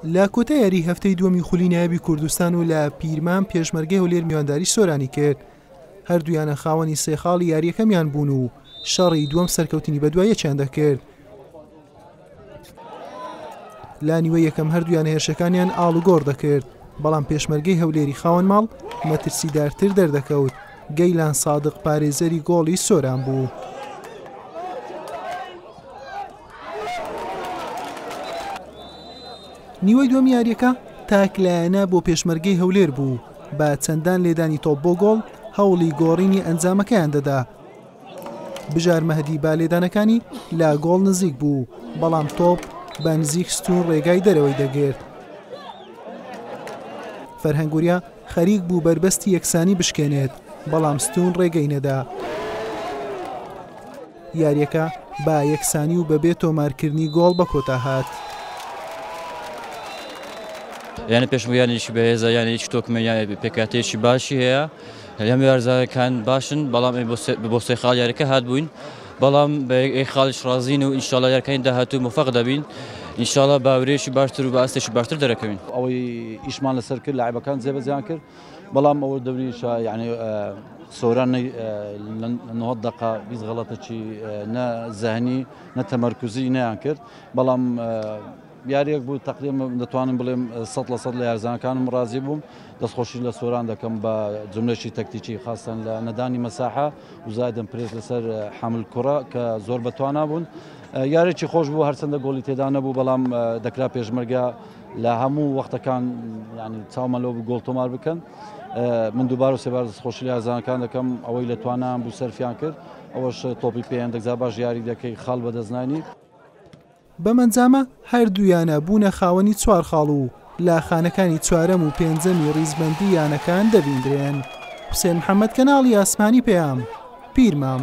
لە کۆتا یاری هەفتەی دووەمی خولی نایبی کوردستان و لە پیرمان پێشمەرگەی هەولێر میوانداری سۆرانی کرد هەردوویانە خاوەنی سێ خاڵی یاریەکەمیان بوون و شەڕی دووەم سەرکەوتنی بەدوایەکیان دەکرد لا نیوە یەکەم هەردوویان هێرشەکانیان ئاڵوگۆڕ دەکرد بەڵام پێشمەرگەی هەولێری خاوەن ماڵ مەترسیدارتر دەردەکەوت گەیلان سادق پارێزەری گۆڵی سۆران بوو. نیوەی دووەمی یاریەکە تاک لایەنە بۆ پێشمەرگەی هەولێر بوو بە چەندان لێدانی تۆپ بۆ گۆڵ هەوڵی گۆڕینی ئەنجامەکەیان دەدا بژار مەهدی با لێدانەکانی لا گۆڵ نزیک بوو بەڵام تۆپ بە نزیک ستون ڕێگای دەرەوەی دەگرت فەرهەنگوریا خەریک بوو بەربەستی یەکسانی بشکێنێت بەڵام ستون ڕێگەی نەدا. یاریەکە بە یەکسانی و بەبێ تۆمارکردنی گۆڵ بەکۆتا هات. یانە پێشمەرگە یانەیەکی بەهێزە، یانەیەکی تۆکمە، پێکهاتەیەکی باشی هەیە، هەم یارزانەکان باشن، بەڵام بۆ سێ خاڵ یاریەکە هاتبووین، بەڵام بە یەک خاڵیش ڕازین و ئینشاڵا یارکانی داهاتوو مۆفەق دەبین، ئینشاڵا باورێکی باشتر و بە ئاستێکی باشتر دەرەکەوین. ئەوەی ئیشمان لەسەر کرد لاعیبەکان جێبەجێیان کرد، بەڵام ئەوە دەوریشە یعنی سۆران نە دقا بیست غەڵەتەکی نە زەهنی نە تەمەرکوزی نیان کرد بەڵام یاریەک بوو تقلیم دەتوانم بڵێم سە لە سە لە یارزانەکانم ڕازی بووم دەستخۆشی لە سۆران دەکەم بە جملەشی تەکتیکی خاستن لە نەدانی مەساحە وزایدن پرێز لەسەر حمل کوڕە کە زۆر بەتوانا بوون یارێکی خۆش بوو هەرچەندە گۆڵی تێدا نەبوو بەڵام دەکرا پێشمەرگە لە هەموو وەختەکان ینی چاومە لەو گۆڵ تۆمار بکەن من دووبار و سێبار دەستخۆشی یازانەکان دەکەم ئەوەی لە توانان بوو سەرفیان کرد ئەوەش تۆپی پێیان دەگزا باش یاری دەکەی خاڵ بەدەستنانی بەمەنجامە هەردوویانە بوونە خاوەنی چوار خاڵ و لە خانەکانی چوارەم و پێنجەمی ڕیزبەندی یانەکان دەبیندرێن حوسێن محەممەد کەناڵی ئاسمانی پەیام پیرمام.